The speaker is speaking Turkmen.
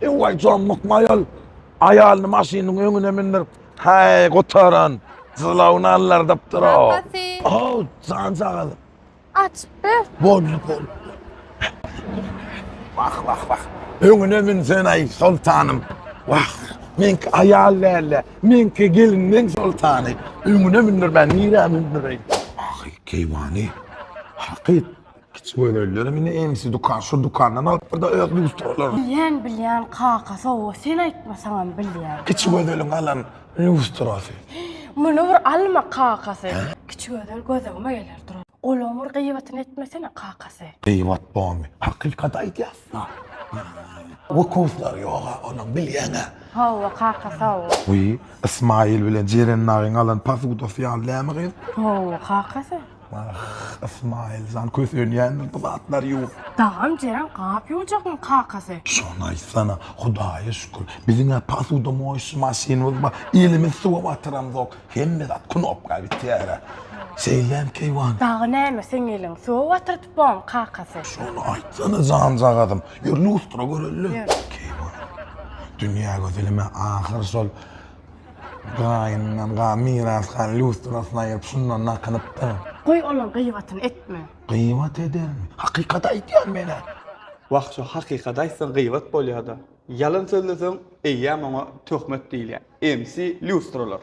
Ewaý jan mukmaýal aýalyny maşynyň öňüne mündirip, häý gutaran, jylawyny allardypdyr-a. Kakasy. Haw, janjagaz. Açypdyr. Boldy, boldy. Wah, wah, wah. Öňüne münsen-aý, soltanym. Wah, meňki aýal däl-de, meňki gelinleň soltany. Öňüne mündirmän nirä mündireýin? Ahy, keýwany. Hakyt. Kiçi gözellerim indi ensi dukan şu dukandan alyp bir de öz lustralaryny. Bilýän bilýän kaka sowga sen aýtmasaňam bilýän. Kiçi gözeliň alan lustrasy. Muny bir alma kakasy. Kiçi gözel gözegime geler duran. Golagyň bir gyýbatyny etmesene kakasy. Gyýbat bomy hakykat aýdýasda. Wkuslary ýoga onuň bilýäňä. Hawa kaka sawol. Wiý Ysmaýyl bilen Jeren nagyň alan posudasy ýaly dämi gyz. Hawa kakasy. Wah, Ysmaýyl jan, kösenýändir bu zatlar ýuwup. Dagam Jeren gap ýuwjagyň kakasy. Şony aýtsana, Hudaýa şükür, biziň-ä posudomoýşy maşynymyz bar, elimiz suwa batyramzok, hemme zat knopka bitýär-ä. Şeýlem keýwan. Dagy näme, seň eliň suwa batyryp boň, kakasy. Şony aýtsana janjagazym, ýör lustra göreli. Ýör. Keýwan. Dünýä gözelim-ä ahyr şol. Gaýyndan ga miras galan lýustrasyny aýyryp şundan nakynypdyr. Goý olaň gyýbatyny etme. Gyýbat edermi? Hakykat aýdýan men-ä. Wah şu hakykat aýtsaň gyýbat bolýada. Ýalan sözleseň eýýäm oňa töhmet diýilýä. MC lýustralar.